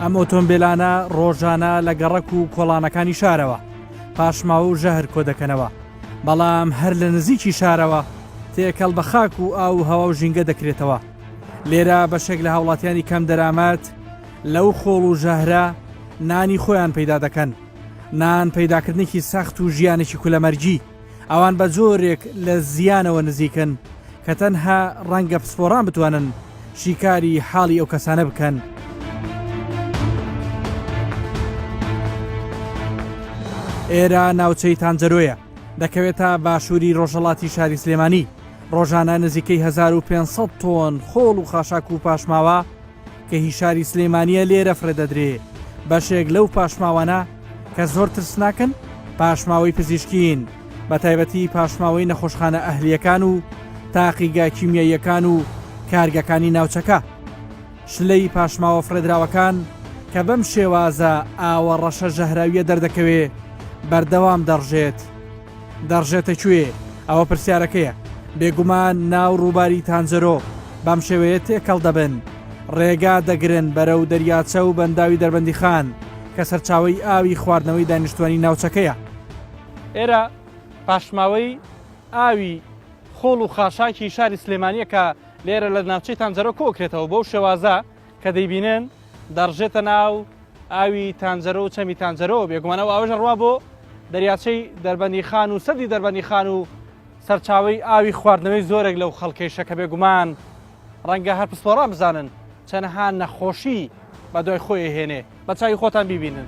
ئەم ئۆتۆمبیلانە ڕۆژانە لە گەڕەک و کۆڵانەکانی شارەوە پاشماوە و ژەهر کۆ دەکەنەوە بەڵام هەر لە نزیکی شارەوە تێکەڵ بە خاک و ئاو و هەوا و ژینگە دەکرێتەوە لێرە بەشێک لە هاوڵاتیانی کەم دەرامەت لەو خۆڵ و ژەهرە نانی خۆیان پەیدا دەکەن نان پەیداکردنێکی سەخت و ژیانێکی کولەمەرگی ئەوان بە جۆرێک لە زیانەوە نزیکن کە تەنها ڕەنگە پسپۆڕان بتوانن شیکاری حاڵی ئەو کەسانە بکەن. ئێرە ناوچەی تانجەرۆیە دەکەوێتە باشووری ڕۆژەڵاتی شاری سلێمانی ڕۆژانە نزیکەی 1500 تۆن خۆڵ و خاشاک و پاشماوە کە هی شاری سلێمانیە لێرە فرەدەدرێ بەشێک لەو پاشماوانە کە زۆر ترسناکن پاشماوەی پزیشکین بە تایبەتی پاشماوەی نەخۆشخانە ئەهلیەکان و تاقیگا کیمیاییەکان و کارگەکانی ناوچەکە شلەی پاشماوە فرەدراوەکان کە بەم شێوازە ئاوە ڕەشە ژەهراویە دەردەکەوێ بەردەوام دەڕژێت. دەڕژێتە کوێ؟ ئەوە پرسیارەکەیە. بێگومان نا و ڕووباری تانجەرۆ بەم شێوەیە تێکەڵ دەبن. ڕێگا دەگرن بەرەو دەریاچە و بەنداوی دەربەندیخان کە سەرچاوەی ئاوی خواردنەوەی دانیشتووانی ناوچەکەیە. ئێرە پاشماوەی ئاوی خۆڵ و خاشاکی شاری سلێمانییە کە لێرە لە ناوچەی تانجەرۆ کۆکرێتەوە بەو شێوازە. کە دەیبینن دەڕژێتە ناو ئاوی تانجەرە و چەمی تانجەرەوە بێگومانە و ئاوژە ڕوا بۆ دەریاچەی دەربەندی خان و سەدی دەربەندی خان و سەرچاوی ئاوی خواردنەوەی زۆرێک لەو خەڵکەیشە کە بێگومان ڕەنگە هەر پسپۆڕان بزانن چەنەها نەخۆشی بە دوای خۆی هێنێ بە چاوی خۆتان بیبینن.